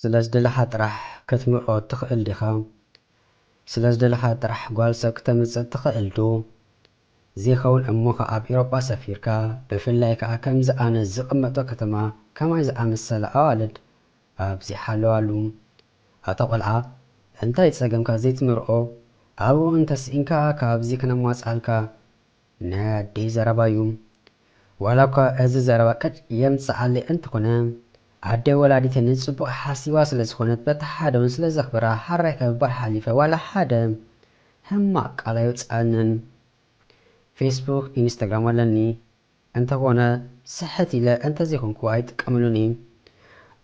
ስለ ዝደለኻ ጥራሕ ከትምርዖ እትኽእል ዲኻ? ስለ ዝደለኻ ጥራሕ ጓል ሰብ ክተምጽእ እትኽእል ዶ? ዜኸውን እሞ ኸኣ ኣብ ኤውሮጳ ሰፊርካ፣ ብፍላይ ከኣ ከምዚ ኣነ ዝቕመጦ ከተማ ከማይ ዝኣመሰላ ኣዋልድ ኣብ ዚሓለዋሉ፣ ኣታ ቆልዓ እንታይ ጸገምካ ዘይትምርኦ ኣብኡ እንተ ሲኢንካ ካብዚ ክነማጽኣልካ ናይ ኣደይ ዘረባ ዩ ዋላ እኳ እዚ ዘረባ ቅጭ የምጽኣለይ እንተኾነ ኣደይ ወላዲተይ ንጽቡቅ ሓሲባ ስለ ዝኾነት በቲ ሓደ ውን ስለ ዘኽብራ ሐራይ ከምባል ሓሊፈ ዋላ ሓደ ሕማቅ ቃል ኣይውጽኣንን ፌስቡክ ኢንስታግራም ኣለኒ እንተኾነ ስሕት ኢለ እንተዘይኮንኩ ኣይጥቀምሉን እየ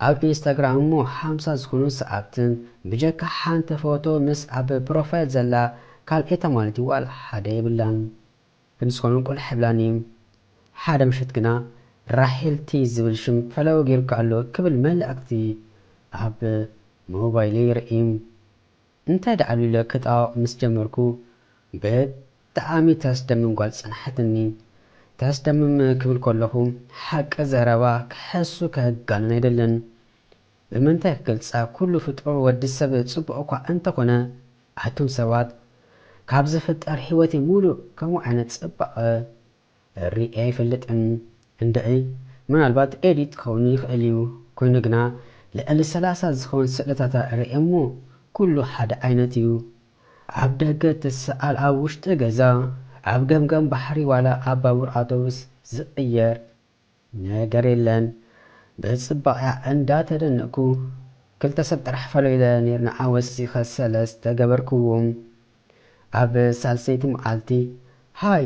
ኣብ ኢንስታግራም እሞ ሓምሳ ዝኮኑ ሰኣብትን ብጀካ ሓንቲ ፎቶ ምስ ኣብ ፕሮፋይል ዘላ ካልኤታ ማለት እዩ ዋላ ሓደ የብላን ግን ዝኮኑ ቁልሕ ይብላኒ እዩ ሓደ ምሸት ግና ራሄል ቲ ዝብል ሽም ፈለወ ጌሩኪ ኣሎ ክብል መልእክቲ ኣብ ሞባይለይ ይርእይ እንታይ ደኣሉ ኢለ ክጣወቕ ምስ ጀመርኩ ብጣዓሚ ተስደምም ጓል ጸንሓትኒ። ተስደምም ክብል ከለኹ ሓቂ ዘረባ ክሕሱ ከጋንን ኣይደልን። ብምንታይ ክገልጻ ኩሉ ፍጡር ወዲ ሰብ ጽቡቕ እኳ እንተኾነ ኣቱም ሰባት ካብ ዝፍጠር ሂወተይ ሙሉእ ከምኡ ዓይነት ጽባቐ ሪኤ ኣይፈልጥን እንድዒ ምናልባት ኤዲት ክኸውን ይኽእል እዩ ኮይኑ ግና ልዕሊ ሰላሳ ዝኸውን ስእልታታ ሪኤ እሞ ኩሉ ሓደ ዓይነት እዩ ኣብ ደገ ትስኣል ኣብ ውሽጢ ገዛ ኣብ ገምገም ባሕሪ ዋላ ኣብ ባቡር ኣውቶቡስ ዝቕየር ነገር የለን ብጽባቅኣ እንዳ ተደነቅኩ ክልተ ሰብ ጥራሕ ፈሎ ኢለ ኔርና ኣወሲከ ሰለስተ ገበርክዎም ኣብ ሳልሰይቲ መዓልቲ ሃይ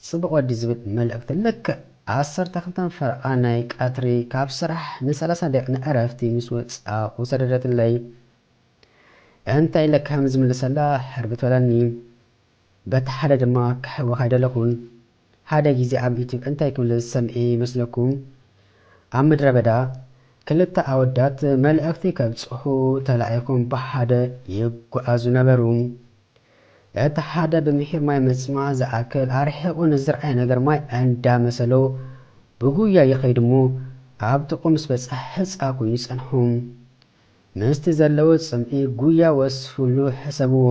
ጽቡቅ ወዲ ዝብል መልእክቲ ልክዕ ዓሰርተ ክልተ ፈረቃ ናይ ቀትሪ ካብ ስራሕ ን ሰላሳ ደቂቅ ንዕረፍቲ ምስ ወጻኩ ሰደደትለይ እንታይ ኢለ ከም ዝምልሰላ ሕርብት በለኒ በቲ ሓደ ድማ ክሕወካ ኣይደለኩን ሓደ ግዜ ኣብ ዩቱብ እንታይ ክብሉ ዝሰምዔ ይመስለኩም ኣብ ምድረ በዳ ክልተ ኣወዳት መልእክቲ ከብጽሑ ተላኢኩም ብሓደ ይጉዓዙ ነበሩ እቲ ሓደ ብምሒር ማይ ምጽማእ ዝኣክል ኣርሒቁ ንዝርኣይ ነገር ማይ ኣንዳ መሰሎ ብጉያ ይከይድ እሞ ኣብ ጥቅኡ ምስ በጽሐ ሕጻ ኮይኑ ጸንሖም ምስቲ ዘለዎ ጽምኢ ጉያ ወስፍሉ ሕሰብዎ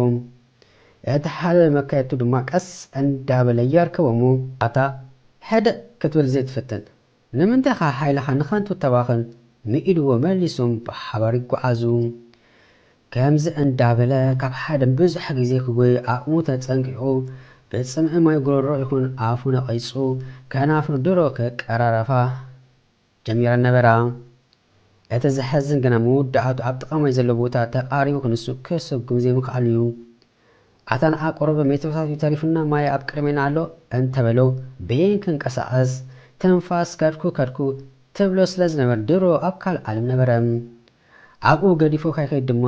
እቲ ሓደ መካየድቱ ድማ ቀስ እንዳበለ የርከቦሞ። ኣታ ሕደእ ክትብል ዘይትፍትን ንምንታይ ኢኻ ሓይልኻ ንኸንቱ ተባኽን ምኢልዎ መሊሶም ብሓባር ይጓዓዙ። ከምዚ እንዳበለ ካብ ሓደ ንብዙሕ ግዜ ክጎዪ ዓቕሙ ተጸንቂቑ ብጽምኢ ማይ ጉሮሮ ይኹን ኣፉ ነቒጹ ከናፍሩ ድሮ ከቀራረፋ ጀሚረን ነበራ። እቲ ዘሕዝን ግና መወዳእቱ ኣብ ጥቓ ማይ ዘሎ ቦታ ተቓሪቡ ክንሱ ክስጉም ዘይምኽኣሉ እዩ። ኣታ ንዓ ቁሩብ ሜትሮታት እዩ ተሪፉና ማይ ኣብ ቅድሜና ኣሎ እንተበሎ በየን ክንቀሳቐስ ትንፋስ ከድኩ ከድኩ ትብሎ ስለ ዝነበር ድሮ ኣብ ካልእ ዓለም ነበረ። ኣብኡ ገዲፉ ከይከይድ ድማ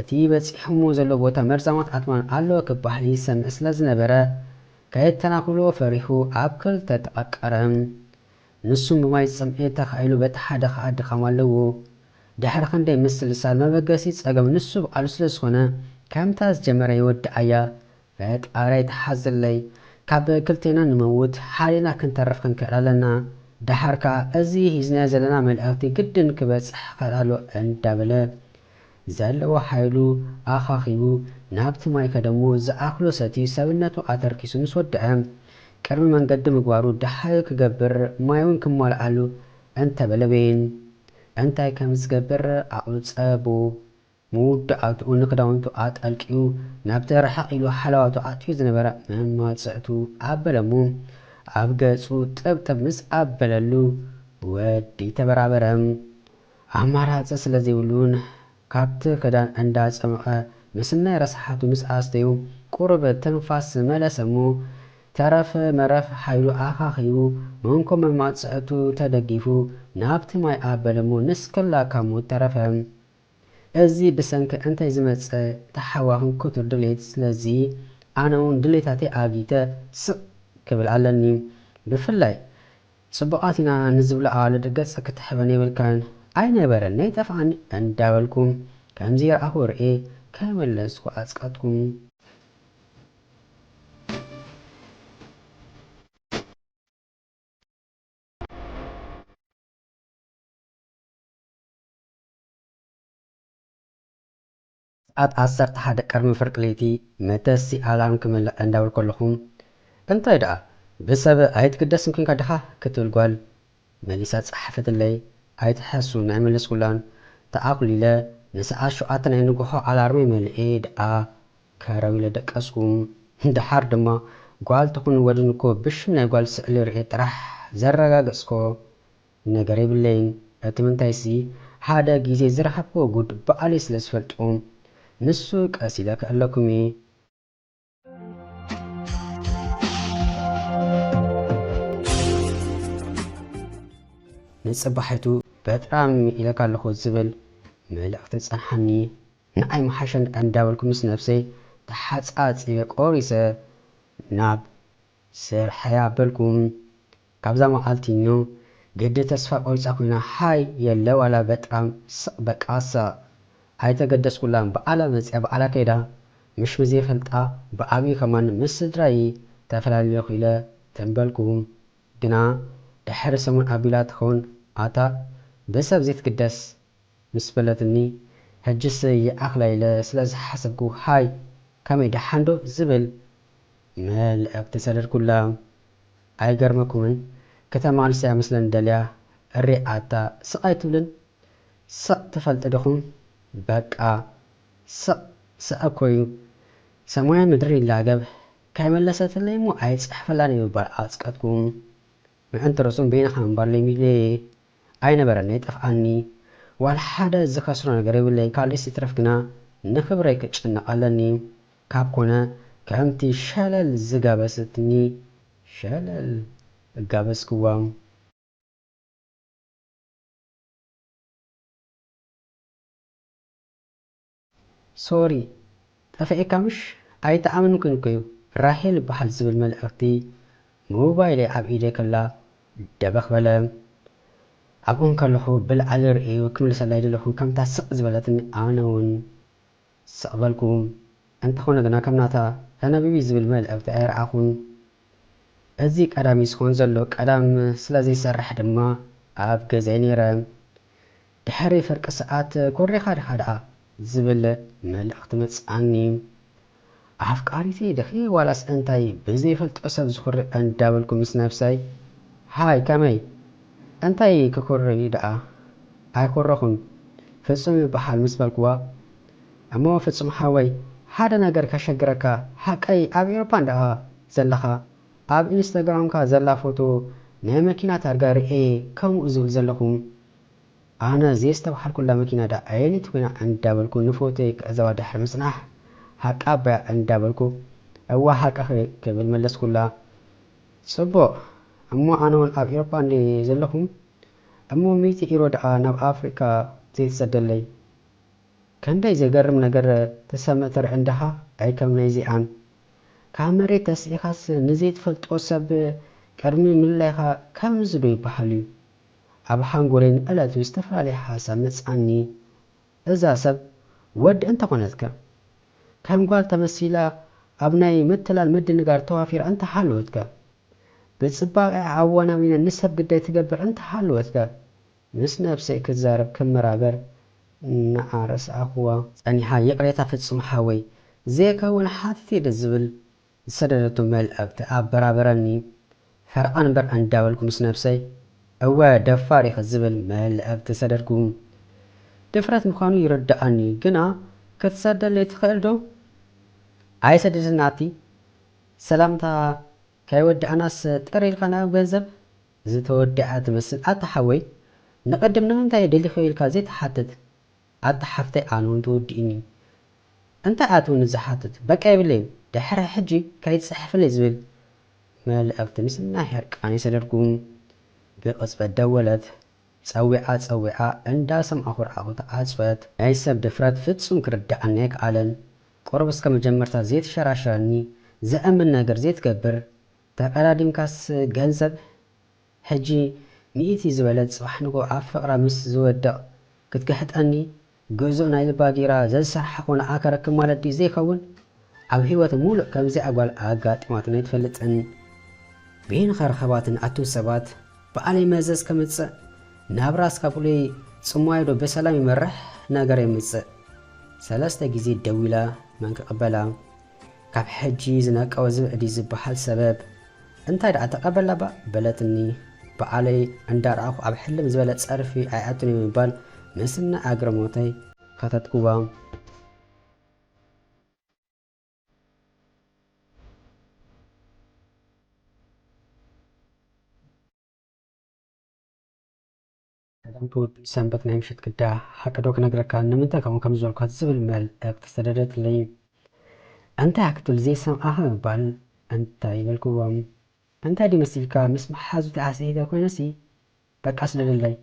እቲ በጺሑሞ ዘሎ ቦታ መርዛማት ኣትማን ኣሎ ክበሃል ይሰምዕ ስለ ዝነበረ ከየተናኹሎ ፈሪሁ ኣብ ክልተ ተቐቀረ። ንሱ ንዋይ ጽምኢ ተኻኢሉ በቲ ሓደ ከኣ ድኻም ኣለዎ ድሕሪ ክንደይ ምስልሳል መበገሲ ጸገም ንሱ ብቃሉ ስለ ዝኾነ ከምታ ዝጀመረ ይወድኣያ ፈጣረይ ተሓዝለይ ካብ ክልቴና ንመውት ሓሊና ክንተርፍ ክንክእል ኣለና ድሓር ከኣ እዚ ሂዝናዮ ዘለና መልእኽቲ ግድን ክበጽሕ ክኽእል ኣለዎ እንዳበለ ዘለዎ ሓይሉ ኣኻኺቡ ናብቲ ማይ ከደ'ሞ ዝኣኽሎ ሰትዩ ሰብነቱ ኣተርኪሱ ምስ ወደኣ፣ ቅድሚ መንገዲ ምግባሩ ደሃዩ ክገብር ማይ'ውን ክማልኣሉ እንተበለ በይን እንታይ ከም ዝገብር ዓቕሉ ጸቡ። መውዳኣትኡ ንክዳውንቱ ኣጠልቅዩ ናብቲ ርሕቕ ኢሉ ሃለዋቱ ኣእትዩ ዝነበረ መማጽዕቱ ኣበለ'ሞ ኣብ ገጹ ጥብጥብ ምስ ኣበለሉ ወዲ ተበራበረ። ኣማራጺ ስለ ዘይብሉን ካብቲ ክዳን እንዳ ጸምቐ ምስናይ ረሳሓቱ ምስ ኣስተዩ ቁሩብ ትንፋስ ዝመለሰ እሞ ተረፍ መረፍ ሓይሉ ኣኻኺቡ መንኮ መማጽዕቱ ተደጊፉ ናብቲ ማይ ኣበለ እሞ ንስክላ ካብ ሞት ተረፈ እዚ ብሰንኪ እንታይ ዝመጸ ታሓዋኺን ክቱር ድሌት ስለዚ ኣነውን ድሌታተይ ኣጊተ ስቅ ክብል ኣለኒ ብፍላይ ጽቡቓት ኢና ንዝብላኣ ልድገጽ ክትሕበን የብልካን ኣይነበረን ነይጠፍኣን እንዳበልኩ ከምዚ ረኣኹ ርእየ ከይመለስኩ ኣጽቀጥኩ። ኣብ ዓሰርተ ሓደ ቅርሚ ፍርቂ ለይቲ መተሲ ኣላርም ክምልእ ዕንዳብል ከለኹ፣ እንታይ ደኣ ብሰብ ኣይትግደስን ኲንካ ዲኻ? ክትብል ጓል መሊሳ ጸሓፈትለይ። ኣይትሓሱ ንኣይመለስኩላን። ተኣዅሊለ ንሰዓት ሸውዓተ ናይ ንግሆ ኣላርመይ መሊኤ ደኣ ከረው ኢለ ደቀስኩ። ደሓር ድማ ጓል ትኹን ወድን'ኮ ብሽም ናይ ጓል ስእሊ ርእየ ጥራሕ ዘረጋገጽኩ። ነገር የብለይን እቲ ምንታይሲ ሓደ ግዜ ዝረከብክዎ ጉድ ባዕለይ ስለ ዝፈልጦ ንሱ ቀስ ኢለ ክዕለኩም እየ። ንጽባሒቱ በጣም ኢለካ ኣለኩ ዝብል መልእክቲ ጸንሓኒ ንዓይ ምሓሸኒ ከኣ እንዳበልኩ ምስ ነብሰይ ተሓጻጺበ ቆሪሰ ናብ ስርሐይ ኣበልኩ ካብዛ መዓልቲኞ ግዲ ተስፋ ቆሪጻ ኮይና ሃይ የለ ዋላ በጥራም ስቅ በቃ ስቅ ኣይተገደስኩላን ብኣላ መጽያ ብኣላ ከይዳ ምሽ ብዘይፈልጣ ብኣብይ ከማን ምስ ስድራይ ተፈላልዮኪ ኢለ ተበልኩ ግና ድሕሪ ሰሙን ኣቢላ ትከውን ኣታ ብሰብ ዘይትግደስ ምስ በለትኒ ህጅስ ይኣክላ ኢለ ስለ ዝሓሰብኩ ሃይ ከመይ ድሓን ዶ ዝብል መልእክቲ ሰደድኩላ። ኣይገርመኩምን ከተማ ኣንስተይ ኣመስለን ደልያ እሪ ኣታ ስቅ ኣይትብልን ስቅ ትፈልጢ ድኩም በቃ ስቅ ስዐ እኮ እዩ ሰማይን ምድርን ይላገብ ካይመለሰትለይ እሞ ኣይጽሐፈላን እየ ምባል ኣጽቀጥኩም ምዕንቲ ርእሱም በይንካ ምንባር ለሚዱ እየ ኣይነበረን ነይጠፍኣኒ ዋላ ሓደ ዝከስሮ ነገር የብለይ ካልእስ ይትረፍ ግና ንክብረይ ክጭነቅ ኣለኒ ካብ ኮነ ከምቲ ሸለል ዝጋበሰትኒ ሸለል እጋበዝክዋ። ሶሪ ጠፊእካ ምሽ ኣይተኣመንኩን ኮዩ ራሄል በሃል ዝብል መልእኽቲ ሞባይለይ ኣብ ኢደይ ከላ ደበኽ በለ ኣብኡ እንከለኹ ብልዓሊ ርእዩ ክምልሰላይ ደለኹ ከምታ ስቅ ዝበለትኒ ኣነ ውን ስቅ በልኩ እንተኾነ ግና ከም ናታ ተነብቢ ዝብል መልእኽቲ ኣይረኣኹን እዚ ቀዳም እዩ ዝኾን ዘሎ ቀዳም ስለዘይሰርሕ ድማ ኣብ ገዛይ ነይረ ድሕሪ ፍርቂ ሰዓት ኮሪኻ ዲኻ ደኣ ዝብል መልእኽቲ መጽኣኒ። ኣፍቃሪተይ ዲኺ ዋላስ እንታይ ብዘይፈልጦ ሰብ ዝኹርዕ እንዳበልኩ ምስ ነብሰይ ሃይ ከመይ እንታይ ክኹሪ ደኣ ኣይኹረኹን ፍጹም ይበሃል ምስ በልክዋ እሞ ፍጹም ሓወይ ሓደ ነገር ከሸግረካ ሓቀይ ኣብ ኤሮፓ እንድኣ ዘለኻ ኣብ ኢንስታግራምካ ዘላ ፎቶ ናይ መኪና ታርጋ ርእየ ከሙኡ ዝብል ዘለኹ ኣነ ዘየስተብሃልኩላ መኪና ድኣ ኣየነይቲ ኮይና እንዳበልኩ ንፎቶይ ክዕዘባ ድሕሪ ምጽናሕ ሃቃ ኣባያ እንዳበልኩ እወ ሃቃ ክብል መለስኩላ። ጽቡቕ እሞ ኣነውን ኣብ ኢሮፓ እንድየ ዘለኹ እሞ ሚእቲ ኢሮ ድኣ ናብ ኣፍሪቃ ዘይትሰደለይ ከንደይ ዘገርም ነገር ትሰምዕ ትርኢ እንድኻ ኣይ ከም ናይ እዚኣን ካብ መሬት ተስኢኻስ ንዘይትፈልጦ ሰብ ቅድሚ ምልላይካ ከምዚ ዶ ይብሃል እዩ ኣብ ሓንጎለይ ንዕለቱ ዝተፈላለየ ሓሳብ መጽኣኒ፣ እዛ ሰብ ወዲ እንተኾነትከ? ከም ጓል ተመሲላ ኣብ ናይ ምትላል ምድንጋር ተዋፊራ እንተሃለወትከ? ብጽባቐኣ ኣወናዊና ንሰብ ግዳይ ትገብር እንተሃለወትከ? ምስ ነብሰይ ክዛረብ ክመራበር ንዓ ረስዓኹዋ። ጸኒሓ ይቕሬታ ፍጹም ሓወይ፣ ዘየከውን ሓቲተ'የ ድዝብል ዝሰደደቶ መልእኽቲ ኣበራበረኒ። ፈርቓ ንበር ኣንዳበልኩ ምስ ነብሰይ እወ ደፋር ኢኺ ዝብል መልእኽቲ ሰደድኩ። ድፍረት ምዃኑ ይርደኣኒ ግና ክትሰደለይ ትኽእል ዶ? ኣይሰድድን ናቲ። ሰላምታ ከይወዳእናስ ጥር ኢልካ ናብ ገንዘብ ዝተወደኣ ትመስል ኣታ ሓወይ ንቕድም ንምንታይ ደሊኹ ኢልካ ዘይትሓትት ኣታ ሓፍተይ ኣነ ውን ተወዲኡኒ እዩ እንታይ ኣትውኒ ዝሓትት በቃ የብለይን ድሕሪ ሕጂ ከይትጽሕፍለይ ዝብል መልእኽቲ ምስ ናይ ሕርቃነይ ሰደድኩ ብቕጽበት ደወለት ጸዊዓ ጸዊዓ እንዳ ሰማዕኩ ርኣኹ ተዓጽወት ናይ ሰብ ድፍረት ፍጹም ክርድኣኒ ኣይከኣለን ቁሩብ እስከ መጀመርታ ዘይትሸራሸረኒ ዘእምን ነገር ዘይትገብር ተቐዳዲምካስ ገንዘብ ሕጂ ሚእቲ ዝበለት ጽባሕ ንግሆ ኣብ ፍቅራ ምስ ዝወድቅ ክትግሕጠኒ ግእዙእ ናይዚ ባጊራ ዘዝሰራሓክዎ ንኣ ከረክብ ማለት ድዩ ዘይከውን ኣብ ሂወት ሙሉእ ከምዚኣ ጓል ኣጋጢማትኒ ኣይትፈልጥን በየን ከረከባትኒ ንኣቱም ሰባት ብኣለይ መዘዝ ከምጽእ ናብ ራስካ ብሉይ ጽማዩ ዶ ብሰላም ይመርሕ ነገር የምጽእ ሰለስተ ግዜ ደዊላ መን ክቅበላ ካብ ሕጂ ዝነቀወ ዝብዒ ድዩ ዝበሃል ሰበብ እንታይ ደኣ ተቀበላ ባእ በለትኒ በዓለይ እንዳ ረኣኹ ኣብ ሕልም ዝበለ ጸርፊ ኣይኣቱን እዩ ምባል ምስናይ ኣግርሞተይ ከተትኩዋ ሰላም ክቡር ሰንበት ናይ ምሸት ግዳ ሓቂ ዶ ክነግረካ ንምንታይ ከምኡ ከም ዝበልኳ ዝብል መልእክቲ ሰደደትለይ እንታይ እያ ክትብል ዘይሰምዓ ከምባል እንታይ በልክዎም እንታይ ድዩ መሲልካ ምስ መሓዙተይ ኣስሒተ ኮይነሲ በቃ ስደደለይ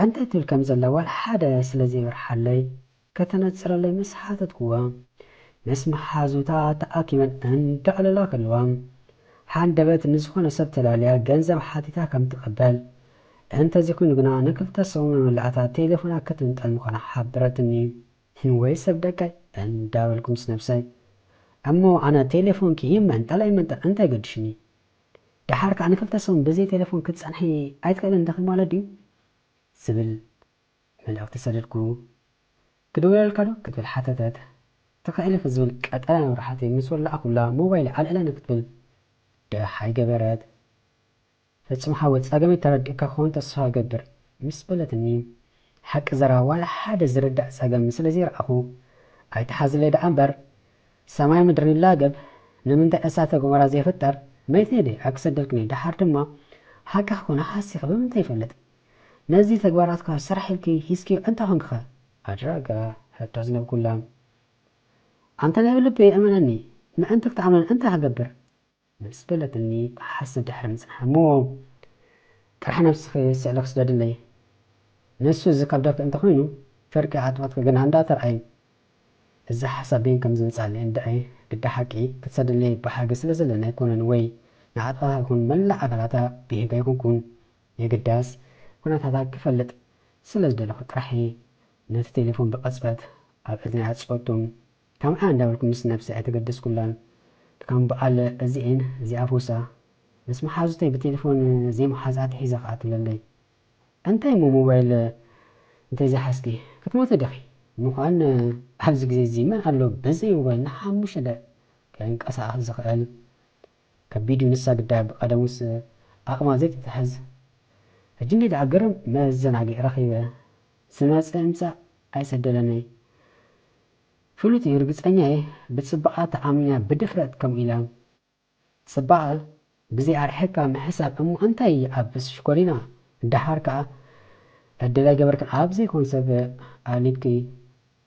እንታይ ትብል ከም ዘላ ዋላ ሓደ ስለ ዘይበርሓለይ ከተነጽረለይ ምስ ሓተትኩዋ፣ ምስ መሓዙታ ተኣኪበን እንዳዕለላ ከለዋ፣ ሃንደበት ንዝኾነ ሰብ ተላልያ ገንዘብ ሓቲታ ከም ትቕበል፣ እንተዚ ኮይኑ ግና ንክልተ ሰሙን መመላእታ ቴሌፎና ክትምንጠል ምዃና ሓበረትኒ። ወይ ሰብ ደቀይ እንዳበልኩ ምስ ነብሰይ፣ እሞ ኣነ ቴሌፎንኪ ይመንጠል ኣይመንጠል እንታይ ገዲሽኒ? ደሓር ከኣ ንክልተ ሰሙን ብዘይ ቴሌፎን ክትጸንሒ ኣይትኽእልን ዲኺ ማለት ድዩ? ዝብል መልእኽቲ ሰደድኩ። ክድውለልካ ዶ? ክትብል ሓተተት። ትኽእል ኢኺ ዝብል ቀጠልያ መብራህቲ ምስ ወላዕኩላ ሞባይለይ ኣልዒለ ንክትብል ደሃይ ገበረት። ፍጹም ሓወይ ጸገመይ ተረዲእካ ክኸውን ተስፋ እገብር ምስ በለትኒ ሓቂ ዘረባ ዋላ ሓደ ዝርዳእ ጸገም ስለ ዘይረኣኹ ኣይትሓዝለይ ደኣ እምበር ሰማይ ምድሪ ንላገብ ንምንታይ እሳተ ጎመራ ዘይፍጠር መይት ነይደ ኣይክሰደልክን እየ ደሓር ድማ ሓቂ ክኾን ሃሲኺ ብምንታይ ይፈልጥ ነዚ ተግባራትካ ስራሕ ኢልኪ ሂዝክዮ እንተ ኮንኪኸ? ኣድራጋ ሕቶ ዝነብኩላም። ኣንተ ናይ ብልበይ እመነኒ ምእንቲ ክትኣምነን እንታይ ክገብር? ምስ በለትኒ ክሓስብ ድሕሪ ምጽናሕ። እሞ ጥራሕ ነብስኺ ስእሊ ክስደድለይ? ንሱ ዝከብደኪ እንተ ኮይኑ ፍርቂ ኣጥበትኪ ግና እንዳ ተርኣዪ። እዚ ሓሳብ በይን ከም ዝመጽኣለይ እንድዒ ግደ ሓቂ ክትሰድለይ ብሓጊ ስለ ዘለኒ ኣይኮነን ወይ ንኣጥበታ ይኹን መላእ ኣካላታ ብሂጋ ኣይኮንኩን የግዳስ፣ ኵነታታ ክፈልጥ ስለ ዝደለኹ ጥራሕ እየ ነቲ ቴሌፎን ብቕጽበት ኣብ እዝነይ ኣጽወቱን ከምዓ እንዳበልኩ ምስ ነብሰይ ኣይተገደስኩላን። ከም በኣል እዚኤን ዚኣፉሳ ምስ መሓዙተይ ብቴሌፎን ዘይምሓዝ ኣትሒዛ ከኣ ትብለለይ፣ እንታይ እሞ ሞባይል እንተዘይሓዝኪ ክትሞቲ ዲኺ? ምዃን ኣብዚ ግዜ'ዚ መን ኣሎ በዘይ ሞባይል ንሓሙሽተ ደቒቕ ከይንቀሳቐስ ዝኽእል? ከቢድ ንሳ ግዳ ብቀደሙስ ኣቅማ ዘይትትሕዝ ሕጂ እንዲይ ደኣ ግርም መዘናጊዒ ረኪበ ዝመጸ ይምጻእ ኣይሰደለንይ ፍሉጥ እዩ ርግጸኛ እየ ብጽባቀኣ ተኣሚና ብድፍረት ከምኡ ኢላ ጽባቀ ግዜ ኣርሒካ ምሕሳብ እሞ እንታይ ይኣብስ ሽኮሪና ደሓር ከኣ ዕድል ኣይገበርክን ኣብ ዘይኮን ሰብ ኣሊብኪ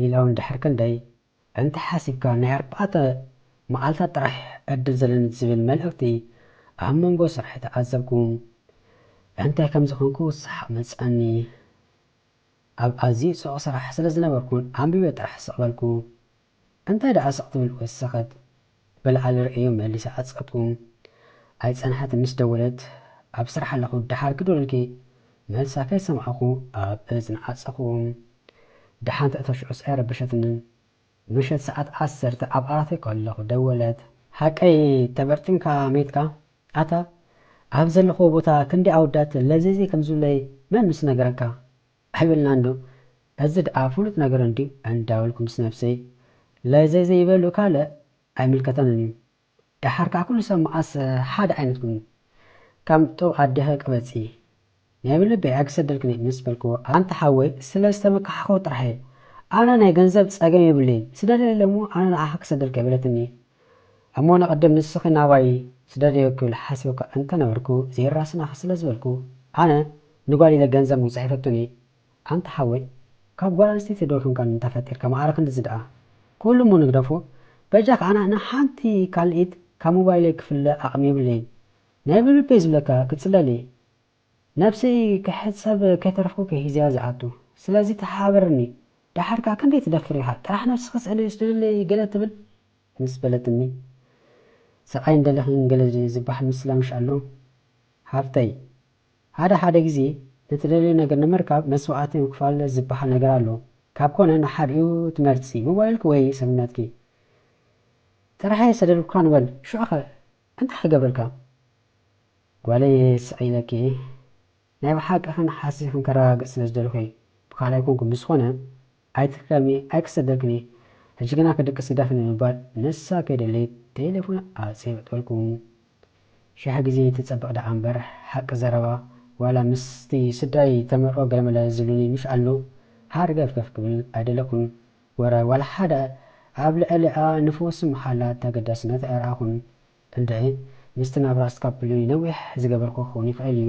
ሊላውን ድሕሪ ክንደይ እንተ ሓሲብካ ናይ ኣርባዕተ መዓልታት ጥራሕ ዕድል ዘለኒ ዝብል መልእኽቲ ኣብ መንጎ ስርሐይ ተዓዘብኩ። እንታይ ከም ዝኾንኩ ሰሓቕ መጸኒ። ኣብ ኣዝዩ ጽዑቕ ስራሕ ስለ ዝነበርኩን ኣንቢበ ጥራሕ ስቕ በልኩ። እንታይ ደኣ ስቕ ትብል ወሰኸት ብልዓሊ ርእዮ መሊሳ ዓጸቱ ኣይጸንሓትን ምስ ደወለት ኣብ ስራሕ ኣለኹ ደሓር ክደውለልኪ መልሳ ከይሰማዕኹ ኣብ እዝና ዓጸኹ ደሓን ተእተሽዑስ ኣይረበሸትንን ምሸት ሰዓት ዓሰርተ ኣብ ዓራተይ ከለኹ ደወለት ሓቀይ ተበርጢምካ ሜትካ ኣታ ኣብ ዘለኽዎ ቦታ ክንደይ ኣወዳት ለዝዚ ከምዝብለይ መን ምስ ነገረካ ኣይበልናን ዶ እዚ ድኣ ፍሉጥ ነገር እንድዩ እንዳበልኩ ምስ ነብሰይ ለዘይ ዘይበሉ ካልእ ኣይምልከተንን እዩ ድሓር ከኣ ኩሉ ሰብ መኣስ ሓደ ዓይነት ኮይኑ ከም ጡብ ኣደሀ ቅበጺ ናይ ብልበይ ኣይክሰደልክን'የ ምስ በልክዎ ኣንታ ሓወይ ስለ ዝተመካሕኩ ጥራሕ'የ ኣነ ናይ ገንዘብ ጸገም የብለይን ስደደለይ እሞ ኣነ ንዓኺ ክሰደልኪ'የ በለትኒ እሞ ንቕድም ንስኺ ናባይ ስደድዮ ክብል ሓሲበ'ኳ እንተ ነበርኩ ዘይራስናኺ ስለ ዝበልኩ ኣነ ንጓል ኢለ ገንዘብ ውን ጽሒፈቶን እየ ኣንታ ሓወይ ካብ ጓል ኣንስተይቲ ዶ ክንከን እንተ ፈጢርካ ማኣረ ክንድዚ ደኣ ኩሉ እሞ ንግደፎ በጃካ ኣነ ኣነ ሓንቲ ካልኢት ካብ ሞባይለይ ክፍለ ኣቅሚ የብለይን ናይ ብልበይ ዝብለካ ክጽለል እየ ነብሰይ ክሕጸብ ከይተረፍኩ ክሒዘያ ዝኣቱ ስለዚ ተሓባበረኒ ደሓር ከኣ ክንደይ ትደፍር ኢካ ጥራሕ ነብስኪ ስእሊ ስደድለይ ገለ ትብል ምስ በለትኒ ስቃይን ደለክን ገለ ዝባሃል ምስላ ምሽ ኣሎ ሓፍተይ። ሓደ ሓደ ግዜ እትደልዮ ነገር ንምርካብ መስዋእቲ ምክፋል ዝበሃል ነገር ኣሎ ካብ ኮነ ንሓዲኡ ትመርጺ ሞባይልኪ ወይ ሰብነትኪ ጥራሕ እየ ዝሰደድኩካ ንበል ሽዑኸ እንታይ ክገብረልካ ጓለይ ስቅ ኢለኪ ናይ ብሓቂ ክንሓሲ ክንከረጋግጽ ስለ ዝደለኹ እየ ብካልኣይ ኮንኩ ብዝኮነ ኣይትሕከሚ ኣይክሰደልክን እየ ሕጂ ግና ክድቅስ ግደፍኒ ብምባል ንሳ ከይደለየት ቴሌፎን ኣጽየበጠልኩም። ሽሕ ግዜ ትጸብቕ ደኣ እምበር ሓቂ ዘረባ ዋላ ምስቲ ስድራይ ተመርዖ ገለመለ ዝብሉኒ ምሽ ኣሉ ሃርገፍገፍ ክብል ኣይደለኹን ወረ ዋላ ሓደ ኣብ ልዕሊኣ ንፈውሲ መሓላ ተገዳስነት ኣይረኣኹን እንድዒ ምስቲ ናብራ ስካፕሉይ ነዊሕ ዝገበርኩ ክኸውን ይኽእል እዩ።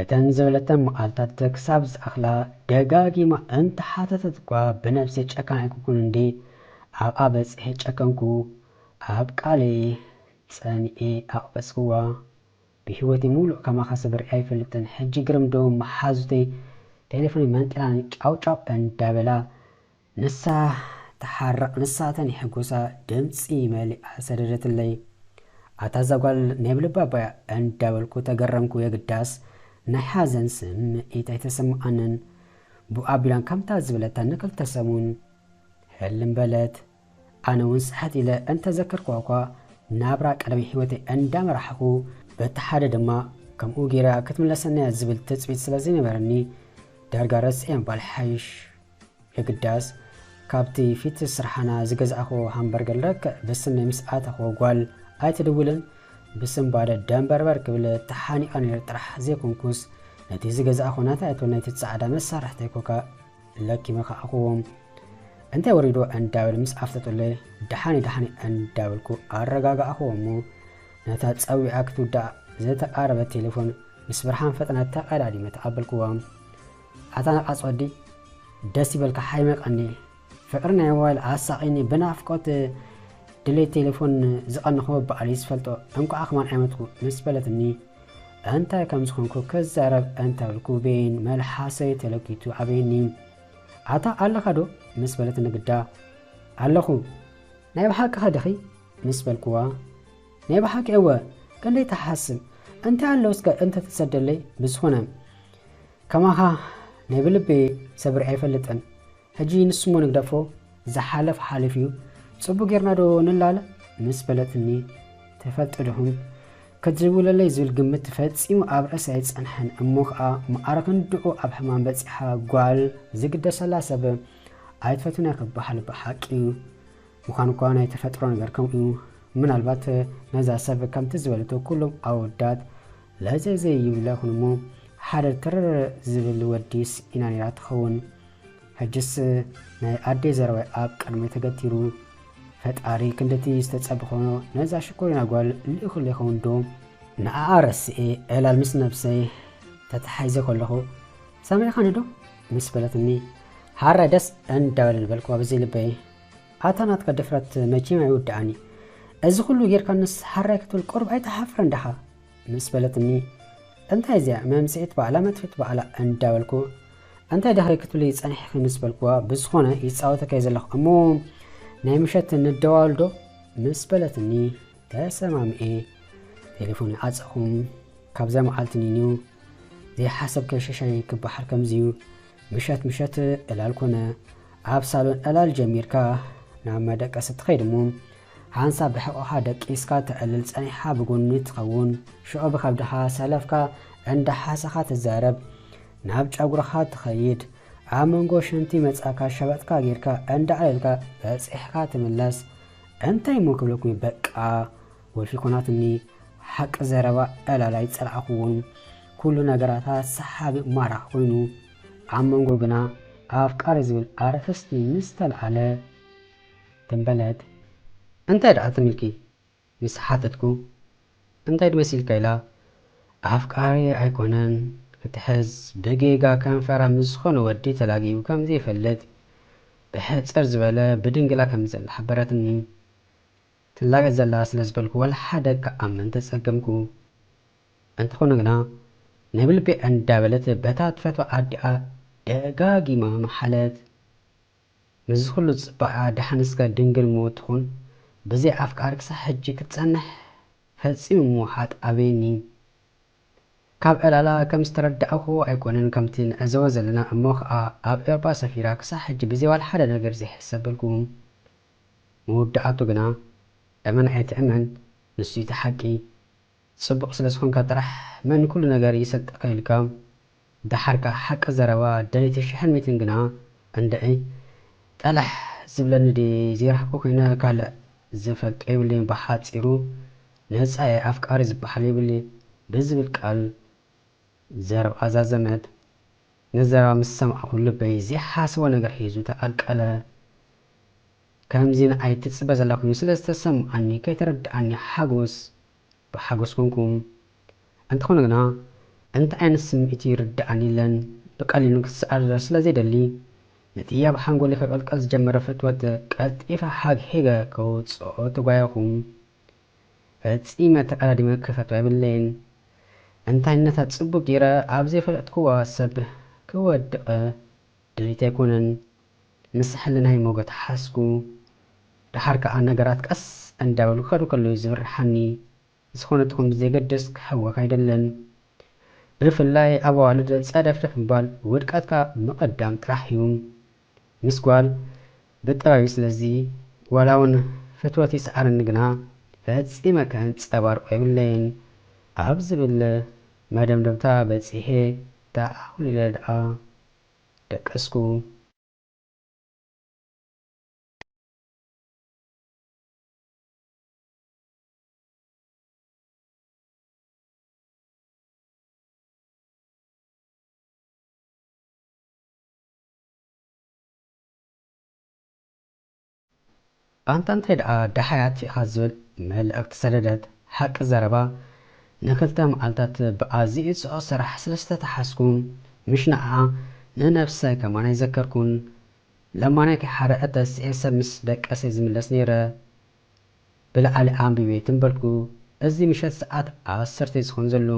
እተን ዝበለተን መዓልታት ክሳብ ዝኣኽላ ደጋጊማ እንተሓተተት'ኳ ብነብሰይ ጨካን ኣይኮንኩን እንድየ፣ ኣብኣ በጺሐ ጨከንኩ። ኣብ ቃለይ ጸኒዐ ኣቕበጽክዋ። ብህይወተይ ምሉእ ከማኻ ሰብ ርእየ ኣይፈልጥን። ሕጂ ግርምዶ መሓዙተይ ቴለፎነይ መንጢላን ጫውጫው እንዳበላ ንሳ ትሓርቕ ንሳ ተንሕጉሳ ድምጺ መሊኣ ሰደደትለይ። ኣታ እዛ ጓል ናይ ብልባ ኣባያ እንዳበልኩ ተገረምኩ የግዳስ ናይ ሓዘን ስምዒት ኣይተሰመዓንን። ቡእ ኣቢላን ከምታ ዝበለታን ንክልተ ሰሙን ህልም በለት። ኣነ ውን ስሕት ኢለ እንተዘከርኩዋ'ኳ ናብራ ቀደመ ሂወተይ እንዳመራሕኹ በቲ ሓደ ድማ ከምኡ ጌራ ክትምለሰኒ'ያ ዝብል ትጽቢት ስለዘይነበረኒ ዳርጋ ረሲዔ ምባል ይሓይሽ። የግዳስ ካብቲ ፊት ስርሓና ዝገዛእክዎ ሃምበርገር ልክዕ ብስመይ ምስ ኣተኽዎ ጓል ኣይትድውልን ብስንባደ ደንበርበር ክብል ተሓኒቐ ነይረ ጥራሕ ዘይኮንኩስ ነቲ ዝገዛእክዎ ናተይ ኣይትበል ናይቲ ጻዕዳ መሳርሕተይ ኮካ ለኪመ ከኣእክዎ እንታይ ወሪድዎ እንዳበለ ምስ ኣፍጠጡለይ ደሓነይ ደሓነይ እንዳበልኩ ኣረጋጋእክዎ እሞ ነታ ጸዊዓ ክትውዳእ ዝተቓረበት ቴሌፎን ምስ ብርሃን ፈጠነ ተቐዳዲመ ተቐበልክዋ ኣታ ነቃጽ ወዲ ደስ ይበልካ ሓይሚ ቀንየ ፍቅሪ ናይ ሞባይል ኣሳቂኒ ብናፍቆት ድሌት ቴሌፎን ዝቀነኹ በኣል እዩ ዝፈልጦ እንቋዕ ከማን ኣይመትኩ ምስ በለትኒ እንታይ ከም ዝኾንኩ ክዛረብ እንተብልኩ ቤን መልሓሰይ ተለኪቱ ኣበየኒ ኣታ ኣለኻ ዶ ምስ በለትኒ ግዳ ኣለኹ ናይ ብሓቂ ከድኺ ምስ በልኩዋ ናይ ብሓቂ እወ ክንደይ ትሓስም እንታይ ኣሎ እስከ እንተ ትሰደለይ ብዝኮነ ከማካ ናይ ብልቢ ሰብሪ ኣይፈልጥን ሕጂ ንስሞ ንግደፎ ዝሓለፍ ሓልፍ እዩ ጽቡቅ ጌርና ዶ ንላለ ምስ በለትኒ ትፈልጡ ድኹም ክትዝውለለይ ዝብል ግምት ፈጺሙ ኣብ ርእሲ ኣይጸንሐን እሞ ከኣ መኣረ ክንድኡ ኣብ ሕማም በጺሓ ጓል ዝግደሰላ ሰብ ኣይትፈትነ ክበሃል ብሓቂ ምዃኑ እኳ ናይ ተፈጥሮ ነገር ከምኡ እዩ። ምናልባት ነዛ ሰብ ከምቲ ዝበለቶ ኩሎም ኣወዳት ለዘዘ ይብለ ይኹን እሞ ሓደ ትርር ዝብል ወዲ ስኢና ነይራ ትኸውን። ሕጅስ ናይ ኣደይ ዘረባይ ኣብ ቅድመይ ተገቲሩ። ፈጣሪ ክንድቲ ዝተጸበኽዎ ነዛ ሽኮሪና ጓል ልኢኹለይ ይኸውን ዶ? ንዓኣ ረሲኤ ዕላል ምስ ነብሰይ ተታሒዘ ከለኹ ሰሚዕኻኒ ዶ? ምስ በለትኒ ሃራይ ደስ እንዳበለኒ በልክዋ ብዘይ ልበይ። ኣታ ናትካ ድፍረት መቼም ኣይውዳኣን እዩ እዚ ኩሉ ጌርካንስ ሐራይ ክትብል ቁሩብ ኣይትሓፍርን ዳኻ ምስ በለትኒ እንታይ እዚኣ መምጽኢት ባዕላ መጥፊት ባዕላ እንዳበልኩ እንታይ ድሕሪ ክትብሊ ጸኒሕኺ ምስ በልኩዋ ብዝኾነ ይጻወተካ እየ ዘለኹ እሞ ናይ ምሸት ንደዋወል ዶ ምስ በለትኒ ተሰማምኤ ቴሌፎን ይዓጸኹም ካብዛ መዓልቲ ንዩ ዘይሓሰብከ ሸሻይ ክበሃል ከምዚዩ ምሸት ምሸት ዕላል ኮነ። ኣብ ሳሎን ዕላል ጀሚርካ ናብ መደቀሲ ትኸይድ እሞ ሓንሳብ ብሕቖኻ ደቂስካ ተዕልል ጸኒሕኻ ብጎኒ ትኸውን። ሽዑ ብከብድኻ ሰለፍካ እንዳሓሰኻ ትዛረብ። ናብ ጨጉርኻ ትኸይድ። ኣብ መንጎ ሽንቲ መጻእካ ሸበጥካ ጌርካ እንዳዕለልካ በጺሕካ ትምለስ። እንታይሞ ክብለኩምዩ በቃ። ወልፊ ኮናትኒ ሓቂ ዘረባ ዕላል ኣይጸላእክዎን ኩሉ ነገራታ ሰሓቢ ማራኺ ኮይኑ ኣብ መንጎ ግና ኣፍቃሪ ዝብል ኣርእስቲ ምስ ተልዓለ ትም በለት። እንታይ ደኣ ትም ኢልኪ ምስ ሓተትኩ እንታይ ድመሲልካ ኢላ ኣፍቃሪ ኣይኮነን ክትሕዝ ብጌጋ ከንፈራ ምስ ዝኾነ ወዲ ተላጊቡ ከም ዘይፈልጥ ብሕጽር ዝበለ ብድንግላ ከም ዘላ ሓበረትኒ። ትላገጽ ዘላ ስለ ዝበልኩ ዋላ ሓደ ክኣምን ተጸገምኩ። እንተኾነ ግና ናይ ብልቢ ኣንዳበለት በታ ትፈትዋ ኣዲኣ ደጋጊማ መሓለት። ምስዚ ኩሉ ጽባቐኣ ደሓን እስከ ድንግል ሞት ትኹን ብዘይ ኣፍቃሪ ክሳዕ ሕጂ ክትጸንሕ ፈጺሙ ምውሓጥ ኣበየኒ። ካብ ዕላላ ከም ዝተረዳእኩዎ ኣይኮነን ከምቲ ንዕዘቦ ዘለና እሞ ኸኣ ኣብ ኤውሮጳ ሰፊራ ክሳዕ ሕጂ ብዘይ ዋላ ሓደ ነገር ዘይሕሰብ በልኩ። መወዳኣቱ ግና እመን ኣይትእመን ንሱ ዩ እቲ ሓቂ ጽቡቅ ስለ ዝኮንካ ጥራሕ መን ኩሉ ነገር ይሰልጠካ ኢልካ ደሓር ከኣ ሓቂ ዘረባ ደልይቲ ሽሕን ሚትን ግና እንድዒ ጠላሕ ዝብለኒ ድየ ዘይረክቦ ኮይነ ካልእ ዝፈልጦ የብለይን ብሓጺሩ ነጻ እየ ኣፍቃሪ ዝበሃል የብልይ ብዝብል ቃል ዘረባ እዛ ዘመድ ንዘረባ ምስ ሰማዕኩ ልበይ ዘይሓስቦ ነገር ሒዙ ተቐልቀለ። ከምዚ ንዓይ ትጽበ ዘላ ኮይኑ ስለ ዝተሰምዓኒ ከይተረድኣኒ ሓጎስ ብሓጎስ ኮንኩ። እንተኾነ ግና እንታይ ዓይነት ስምዒት'ዩ ይርድኣኒ ኢለን ብቀሊሉ ክሰኣል'ዶ ስለ ዘይደሊ ነቲ ኣብ ሓንጎለይ ክቕልቀል ዝጀመረ ፍትወት ቀልጢፈ ሓግሒገ ከውጽኦ ተጓየኹ። ፈጺመ ተቀዳዲመ ክፈትዋ የብለይን እንታይነታ ጽቡቅ ጌረ ኣብ ዘይፈለጥክዎ ሰብ ክወድቅ ድሌት ኣይኮነን ምስ ሕልናይ ሞጎት ሓዝኩ ደሓር ከኣ ነገራት ቀስ እንዳበሉ ክከዱ ከለውዩ ዝብርሓኒ ዝኮነ ትኩን ብዘይገድስ ክሕወክ ኣይደልን ብፍላይ ኣብ ኣዋልድ ጸደፍደፍ ምባል ውድቀትካ ምቅዳም ጥራሕ ዩ። ምስ ጓል ብጥራዩ ስለዚ ዋላ ውን ፍትወት ይስዓረኒ ግና ፈጺመ ከንጸባርቆ የብለይን ኣብ ዝብል መደምደምታ በጺሔ ተዓውል ኢለ ድኣ ደቀስኩ። ኣንታ እንታይ ደኣ ደሃያት ኢኻ ዝብል መልእኽቲ ሰደደት፣ ሓቂ ዘረባ ንክልተ መዓልታት ብኣዚዩ ጽዑቕ ስራሕ ስለ ዝተታሓዝኩ ምሽ ንዓኣ ንነብሰይ ከማን ኣይዘከርኩን። ለማነይቲ ሓደ እተስኤ ሰብ ምስ ደቀሰ እየ ዝምለስ ነይረ። ብላዕሊ ኣንቢቤ ትንበልኩ እዚ ምሸት ሰዓት ዓሰርተ ዩ ዝኮን ዘሉ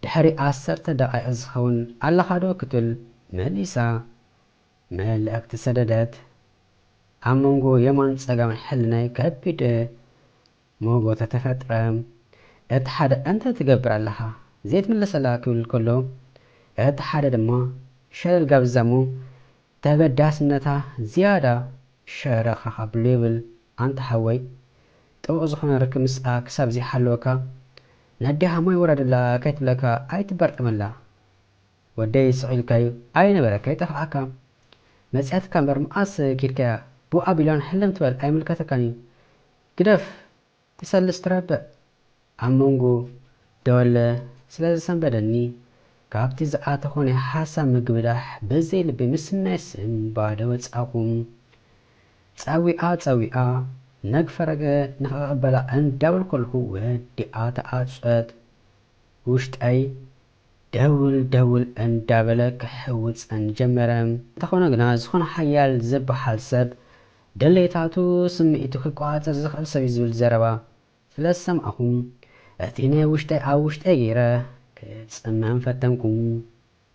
ድሕሪ ዓሰርተ ደቃይቅ ዝከውን ኣለካ ዶ ክትብል መሊሳ መልእክቲ ሰደደት ኣብ መንጎ የማን ጸጋምን ሕልናይ ከቢድ ሞጎተ ተፈጥረ እቲ ሓደ እንታይ ትገብር ኣለካ ዘይትምለሰላ ክብል ከሎ እቲ ሓደ ድማ ሸለል ጋብዛ እሞ ተበዳስነታ ዝያዳ ሸረኽ ኣኻብሎ ይብል ኣንታ ሓወይ ጥቡቅ ዝኾነ ርክብ ምስኣ ክሳብ ዘይሓለወካ ነዴኻ ማይ ውረደላ ከይትብለካ ኣይትበርጠመላ ወደይ ስቅ ኢልካዩ ኣይነበረ ከይጠፍኣካ መጽያትካ እምበር መኣስ ኪድካያ ቡእ ኣቢላን ሕልም ትበል ኣይምልከተካንዩ ግደፍ ትሰልስ ትረብዕ ኣብ መንጎ ደወለ ስለ ዝሰንበደኒ ካብቲ ዝኣተኹ ናይ ሓሳብ ምግብዳሕ በዘይ ልቢ ምስናይ ስም ባዶ ወጻኹ። ጸዊዓ ጸዊዓ ነግ ፈረገ ንኽቕበላ እንዳበልኩ ከለኹ ወዲኣ ተዓጸወት። ውሽጠይ ደውል ደውል እንዳበለ ክሕውጸን ጀመረ። እንተኾነ ግና ዝኾነ ሓያል ዝበሃል ሰብ ድሌታቱ ስምዒቱ ክቆጻጸር ዝኽእል ሰብ'ዩ ዝብል ዘረባ ስለ ዝሰማዕኩ እቲ ናይ ውሽጠይ ኣብ ውሽጠይ ገይረ ክጽመም ፈተንኩ።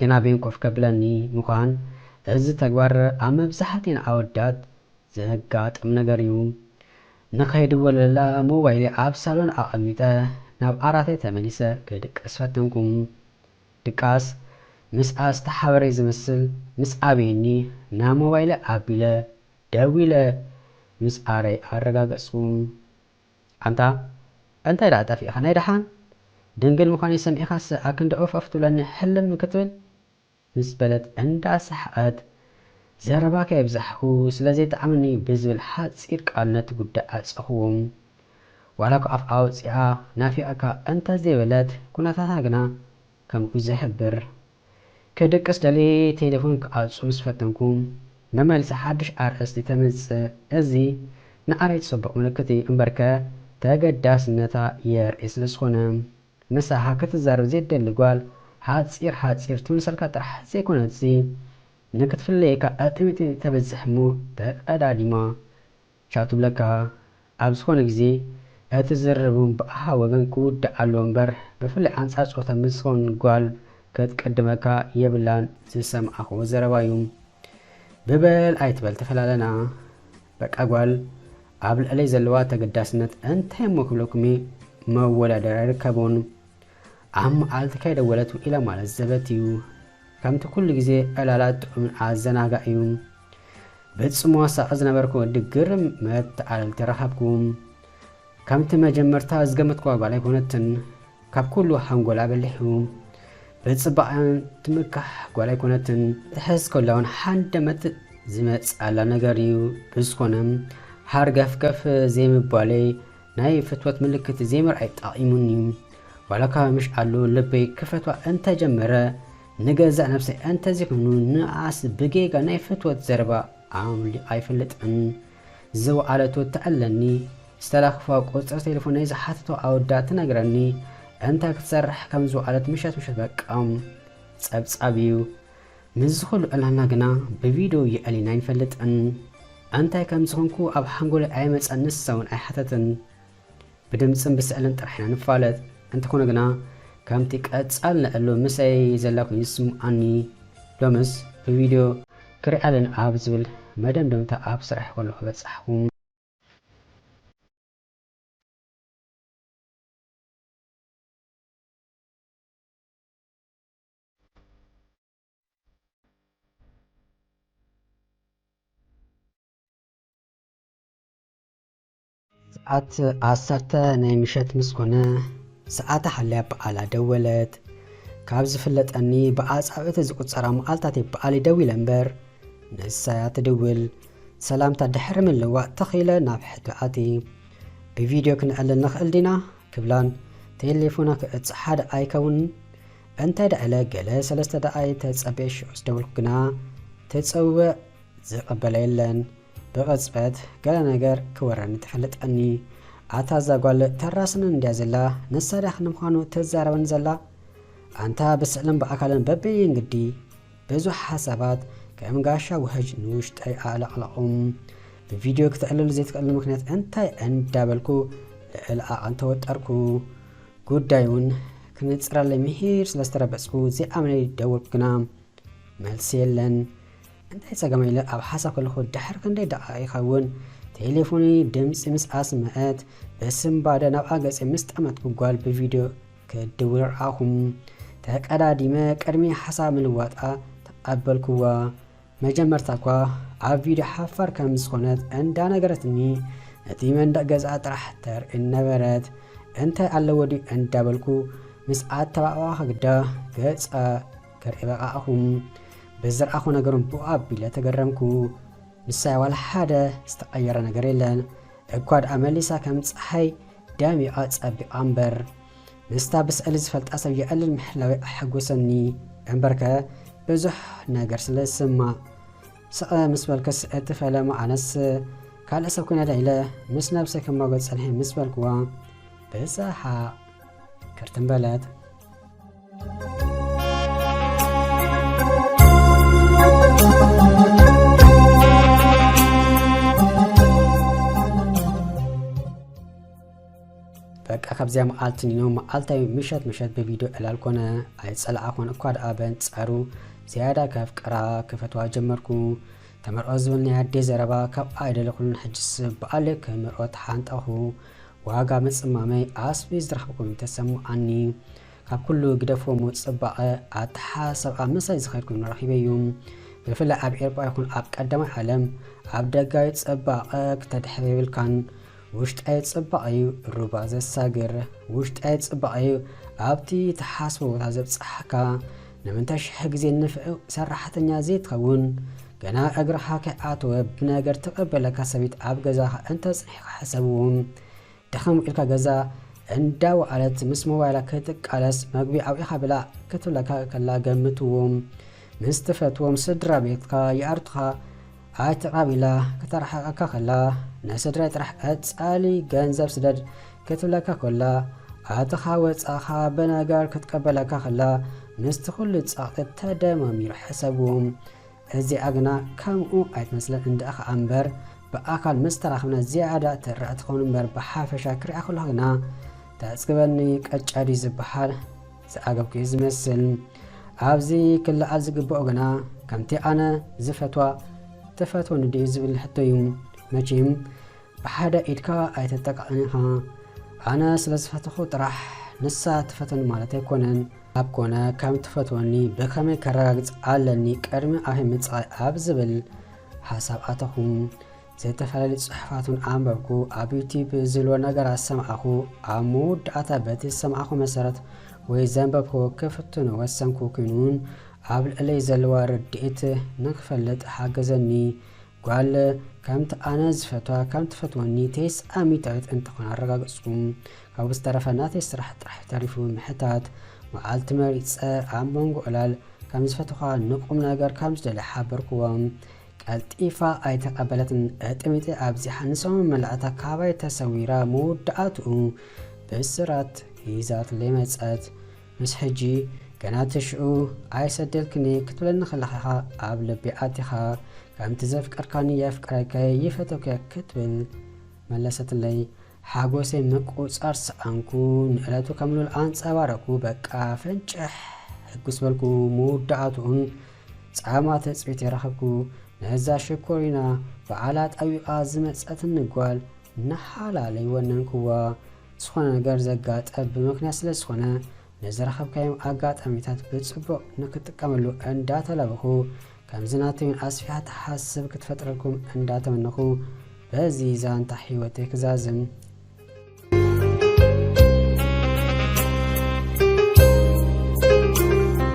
ግና ቤን ኮፍ ከብለኒ ምዃን እዚ ተግባር ኣብ መብዛሕትኤን ኣወዳት ዘጋጥም ነገር'ዩ። ንኸይድወለላ ሞባይለይ ኣብ ሳሎን ኣቐሚጠ ናብ ዓራተይ ተመሊሰ ክድቅስ ፈተንኩ። ድቃስ ምስኣ ዝተሓበረይ ዝመስል ምስ ኣበየኒ ናብ ሞባይለይ ኣቢለ ደዊለ ምስ ኣረይ ኣረጋገጽኩ። ኣንታ እንታይ ደኣ ጠፊእካ ናይ ደሓን ድንግል ምዃነይ ሰሚዕካሰ ኣክንዲ ኦፍ ኦፍ ትብለኒ ሕልም ክትብል? ምስ በለት እንዳ ሰሓቐት፣ ዘረባ ከየብዛሕኩ ስለ ዘይጥዓመኒ ብዝብል ሓጺር ቃል ነቲ ጉዳይ ዓጸኹዎ። ዋላኳ ኣፍ ኣውጺኣ ናፊቐካ እንተ ዘይበለት ኩነታታ ግና ከምኡ ዝሕብር። ክድቅስ ደልየ ቴሌፎን ክኣጹ ምስ ፈተንኩ መመሊሳ ሓድሽ ኣርእስቲ ተምጽእ። እዚ ንዓይ ጽቡቕ ምልክት እዩ እምበርከ ተገዳስነታ የርኢ ስለ ዝኾነ። ምሳኻ ክትዛረብ ዘይትደሊ ጓል ሓጺር ሓጺር ትምስልካ ጥራሕ ዘይኮነትሲ ንክትፍለየካ ኣጥሚጢ ተብዝሕ እሞ ተቀዳዲማ ቻው ትብለካ ኣብ ዝኾነ ግዜ እቲ ዝርርብም ብኣኻ ወገን ክውዳእ ኣለዎ እምበር ብፍላይ ኣንጻር ጾታ ምስ ዝኾን ጓል ክትቅድመካ የብላን ዝሰማዕክዎ ዘረባ እዩ ብበል ኣይትበል ተፈላለና በቃ ጓል ኣብ ልዕለይ ዘለዋ ተገዳስነት እንታይ እሞ ክብለኩም እየ መወዳደሪ ኣይርከቦን ኣብ መዓልቲ ከይደወለት ውዒላ ማለት ዘበት እዩ ከምቲ ኩሉ ግዜ ዕላላት ጥዑምን ኣዘናጋዕ እዩ ብጽሞ ሳቂ ዝነበርኩ ወዲ ግርም መተዓለልቲ ረኸብኩ ከምቲ መጀመርታ ዝገመትክዋ ጓል ኣይኮነትን ካብ ኩሉ ሓንጎላ በሊሑ ብጽባቀኣን ትምካሕ ጓል ኣይኮነትን ክትሕዝ ከላ ውን ሓንደመት ዝመጻላ ነገር እዩ ብዝኮነ ሃርገፍገፍ ዘይምባለይ ናይ ፍትወት ምልክት ዘይምርኣይ ጠቂሙኒ ዋላካ ምሽ ኣሉ ልበይ ክፈትዋ እንተጀመረ ንገዛእ ነብሰይ እንተዘይኮይኑ ንኣኣስ ብጌጋ ናይ ፍትወት ዘረባ ኣምሊቃ ኣይፈልጥን ዝወዓለቶ እትዕለኒ ዝተላክፋ ቁፅሪ ቴሌፎነይ ዝሓተቶ ኣወዳ ትነግረኒ እንታይ ክትሰርሕ ከም ዝወዓለት ምሸት ምሸት በቃ ፀብፃብ እዩ ምስዚ ኩሉ ዕላልና ግና ብቪድዮ የዕሊና ኣይንፈልጥን እንታይ ከም ዝኮንኩ ኣብ ሓንጎለይ ኣይመፀን ንሳ እውን ኣይሓተትን ብድምጽን ብስዕልን ጥራሕ ኢና ንፋለጥ እንተኾነ ግና ከምቲ ቀጻል ንዕሉ ምሰይ ዘላ ኮይኑ ዝስምዓኒ ሎምስ ብቪድዮ ክሪኣ ኣለኒ ኣብ ዝብል መደምደምታ ኣብ ስራሕይ ከለኹ በጻሕኹ። ሰዓት ዓሰርተ ናይ ምሸት ምስ ኮነ፣ ሰዓታ ሓልያ ብኣላ ደወለት። ካብ ዝፍለጠኒ ብኣጻብእቲ ዝቁጸራ መዓልታት እየ ብኣለይ ደዊለ እምበር፣ ንሳ'ያ ትድውል። ሰላምታ ድሕሪ ምልውዋጥ ትኽ ኢለ ናብ ሕቶ ኣትየ፣ ብቪድዮ ክንዕልል ንኽእል ዲና? ክብላን፣ ቴሌፎና ክዕጸ ሓደ ኣይከውንን? እንታይ ደኣ ኢለ ገለ ሰለስተ ደቓይቕ ተጸብየ ሽዑ ዝደወልኩ ግና ትጽውዕ ዝቕበለ የለን። ብቅጽበት ገለ ነገር ክወረኒ ተፈለጠኒ ኣታ እዛ ጓል ተራስንን እንድያ ዘላ ንሳ ድያ ክንዲ ምዃኑ ትዛረበኒ ዘላ ኣንታ ብስእልን ብኣካልን በበይን ግዲ ብዙሕ ሓሳባት ከም ጋሻ ውሕጅ ንውሽጠይ ኣዕለቕለቑ ብቪድዮ ክተዕልሉ ዘይትኽእልሉ ምክንያት እንታይ እንዳበልኩ ልዕሊ ዓቐን ተወጠርኩ ጉዳይ እውን ክንጽረለይ ምሂር ስለ ዝተረበጽኩ ዘይኣምነይ ደወልኩ ግና መልሲ የለን እንታይ ጸገም ኢለ ኣብ ሓሳብ ከለኹ ድሕሪ ክንደይ ደቓይቕ ኢኻ እውን ቴሌፎነይ ድምጺ ምስ ኣስመዐት ብስንባደ ናብኣ ገጸ ምስ ጠመትኩ ጓል ብቪድዮ ክትድውል ረኣኹ። ተቀዳዲመ ቅድሚ ሓሳብ ምልዋጣ ተቐበልኩዋ። መጀመርታ እኳ ኣብ ቪድዮ ሓፋር ከም ዝኾነት እንዳነገረትኒ ነቲ መንደቕ ገዝኣ ጥራሕ ተርእየኒ ነበረት። እንታይ ኣለዎ ድዩ እንዳበልኩ ምስ ኣተባባዕኩ ግዳ ገጻ ከርኢ በቓእኹም። በዚ ዝረኣኹዎ ነገር'ውን ብኡ ኣቢለ ተገረምኩ። ንሳ'ያ ዋላ ሓደ ዝተቐየረ ነገር የለን። እኳ ደኣ መሊሳ ከም ጸሓይ ደሚቓ ጸቢቓ እምበር። ምስታ ብስእሊ ዝፈልጣ ሰብ የዕልል ምሕላወይ ኣሐጎሰኒ። እምበርከ ብዙሕ ነገር ስለ ዝስማዕ። ስቐ ምስ በልክስ እቲ ፈለማ ኣነስ ካልእ ሰብ ኮይነ ደ ኢለ ምስ ነብሰይ ክማጎት ጸኒሐ ምስ በልኩዋ ብሰሓቕ ክርትም በለት። በቃ ካብዚያ መዓልቲ ኒኖ መዓልታዊ ምሸት ምሸት ብቪድዮ ዕላል ኮነ ኣይጸላዓ ኮነ እኳ ደኣ በንጻሩ ዝያዳ ከፍቅራ ክፈትዋ ጀመርኩ ተመርዖ ዝብል ናይ ኣዴ ዘረባ ካብ ኣይደለኹሉን ሕጅስ በኣለ ክምርዖ ተሓንጠኹ ዋጋ ምጽማመይ ኣስቢ ዝረኽብኩም ተሰምዓኒ ካብ ኩሉ ግደፍዎ እሞ ጽባቐ ኣተሓሳስብኣ ምሳይ ዝኸድኩም ረኺበዮ። ብፍላይ ኣብ ኤርጳ ይኹን ኣብ ቀዳማይ ዓለም ኣብ ደጋዊ ጽባቐ ክተድሕር የብልካን። ውሽጣዊ ጽባቐ'ዩ ሩባ ዘሳግር። ውሽጣዊ ጽባቐ'ዩ ኣብቲ ትሓስቦ ቦታ ዘብጽሓካ። ንምንታይ ሽሕ ግዜ ንፍዕ ሰራሕተኛ ዘይትኸውን? ገና እግርኻ ከይኣተወ ብነገር ትቐበለካ ሰበይቲ ኣብ ገዛኻ እንተጽኒሕካ ሕሰብዎ። ደኸም ኢልካ ገዛ እንዳ ወዓለት ምስ ሞባይላ ክትቃለስ መግቢ ኣውዒኻ ብላዕ ክትብለካ ከላ ገምትዎም ምስ ትፈትዎም ስድራቤትካ ይኣርትኻ ኣይትዕራብ ኢላ ክተርሕቀካ ከላ ንስድራይ ጥራሕ ቀጻሊ ገንዘብ ስደድ ክትብለካ ኮላ ኣተኻ ወጻኻ ብነገር ክትቀበለካ ከላ ምስቲ ኩሉ ጸቕጢ ተደማሚሩ ሕሰብዎም እዚኣ ግና ከምኡ ኣይትመስልን እንድኣ ከኣ እምበር ብኣካል ምስ ተራኽብና ዝያዳ ትርኣ ትኸውን እምበር ብሓፈሻ ክሪኣ ከለኹ ግና ተጽግበኒ ቀጫ ድዩ ዝበሃል ዝኣገብኩ እዩ ዝመስል ኣብዚ ክለዓል ዝግብኦ ግና ከምቲ ኣነ ዝፈትዋ ትፈትወኒ ድዩ ዝብል ሕቶ እዩ መቼም ብሓደ ኢድካ ኣይተጠቃዕን ኢኻ ኣነ ስለ ዝፈትኹ ጥራሕ ንሳ ትፈትወኒ ማለት ኣይኮነን ኣብ ኮነ ከም ትፈትወኒ ብከመይ ከረጋግጽ ኣለኒ ቅድሚ ኣበይ ምጻይ ኣብ ዝብል ሓሳብ ኣተኹ ዝተፈላለዩ ጽሑፋቱን ኣንበብኩ ኣብ ዩቲብ ዝብሎ ነገራት ሰምዓኹ ኣብ መወዳእታ በቲ ዝሰምዓኹ መሰረት ወይ ዘንበብኩ ክፍትኖ ወሰንኩ ኩኑን ኣብ ልዕለይ ዘለዋ ርድኢት ንክፈልጥ ሓገዘኒ ጓል ከምቲ ኣነ ዝፈትዋ ከም ትፈትወኒ ተስኣሚታዊት እንተኾን ኣረጋገጽኩም ካብኡ ዝተረፈ ናተይ ስራሕ ጥራሕ ተሪፉ ምሕታት መዓልቲ መሪጸ ኣብ መንጎ ዕላል ከም ዝፈትኻ ንቁም ነገር ከም ዝደልያ ሓበርክዎም ቀልጢፋ ኣይተቀበለትን እጥሚጢ ኣብዚሓ ንሰሙን መላእታ ካባይ ተሰዊራ መወዳእትኡ ብስራት ሂዛትለይ መጸት ምስ ሕጂ ገና እቲ ሽዑ ኣይሰደልክኒ ክትብለኒ ከለኻ ኢኻ ኣብ ልቢ ኣቲኻ ከምቲ ዘፍቀርካኒ የፍቅረከ ይፈተውከ ክትብል መለሰትለይ ሓጎሰይ ምቁጻር ሰኣንኩ ንእለቱ ከም ሉል ኣንጸባረኩ በቃ ፈንጭሕ ሕጉስ በልኩ ምውዳኣትኡን ጻማ ተጽቢተይ ረኸብኩ ነዛ ሽኮሪና ብዓላ ጠዊቓ ዝመጸትኒ ጓል ንሓላለይ ወነንክዋ ዝኾነ ነገር ዘጋጠ ብምክንያት ስለ ዝኾነ ንዝረኸብካዮም ኣጋጣሚታት ብፅቡቕ ንክትጥቀመሉ እንዳተላበኹ ከምዚ ናተይ ውን ኣስፊሓ ትሓስብ ክትፈጥረልኩም እንዳተመነኹ በዚ ዛንታ ሂወተይ ክዛዝም